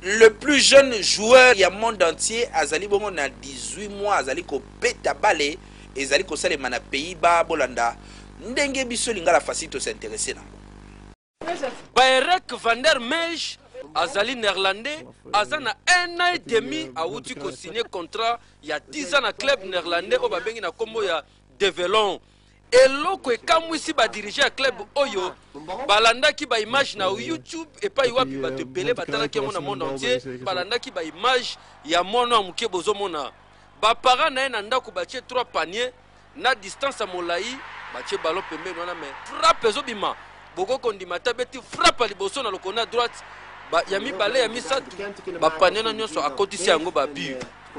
Le plus jeune joueur ya monde entier azali bongo na 18 mois azali kobeta bale ezali kosalema na Pays-Bas bolanda ndenge biso lingala facile to s'intéresser nango. Baerek van der Meij azali néerlandais aza na un an et demi awuti kosigne contrat ya 10 ans na club néerlandais oyo babengi na nkombo ya develon Eloko ekamwisi ba dirigeants ya club oyo balandaki ba images na YouTube epai wapi bato ebele batalaki yango na monde entier, balandaki ba images ya mwana ya moke bozomona ba parents na ye na ndako batie trois paniers na distance ya molayi batie ballon pembeni wana mais frappe ezobima bokoki kondima ata abeti frappe ya liboso na lokolo na droite ba, ya mibale ya misato bapanier na nyonso akotisi yango ba but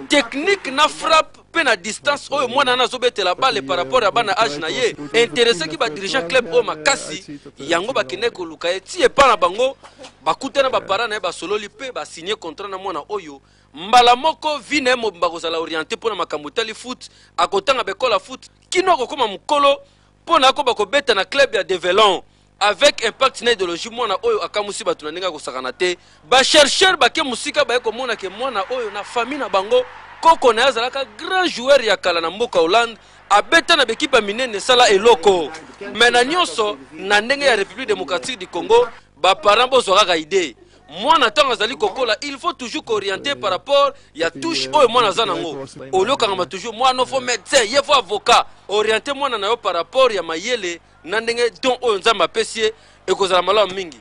technique na frappe mpe na distance oyo mwana wana azobetela bale par rapport ya bana age na ye interesaki badirigeant club oyo makasi yango bakendaki koluka ye ti epai na bango bakutana bapara na ye basololi mpe basigne contrat na mwana oyo mbala moko vi na ye mobimba kozala oriente mpo na makambo etali foot akotanga bekola foot kino akokoma mokolo mpo na akoba kobeta na club ya develon avec impact na ideologie mwana oyo akamusi bato na ndenge akosakana te bachercheur bake mosika baye komona ke mwana oyo na famille na bango koko na ye azalaka grand joueur ya kala na mboka hollande abeta na bekipe ya minene esala eloko me na nyonso na ndenge ya république démocratique du congo baparent bozwa kaka idee mwana ntango azali kokola il faut toujours kooriente par rapport ya touche oyo mwana aza nango olio okangama toujours mwana ofo médecin ye fo avocat oriente mwana na yo par rapport ya mayele na ndenge don oyo nzambe apesi ye ekozala malamu mingi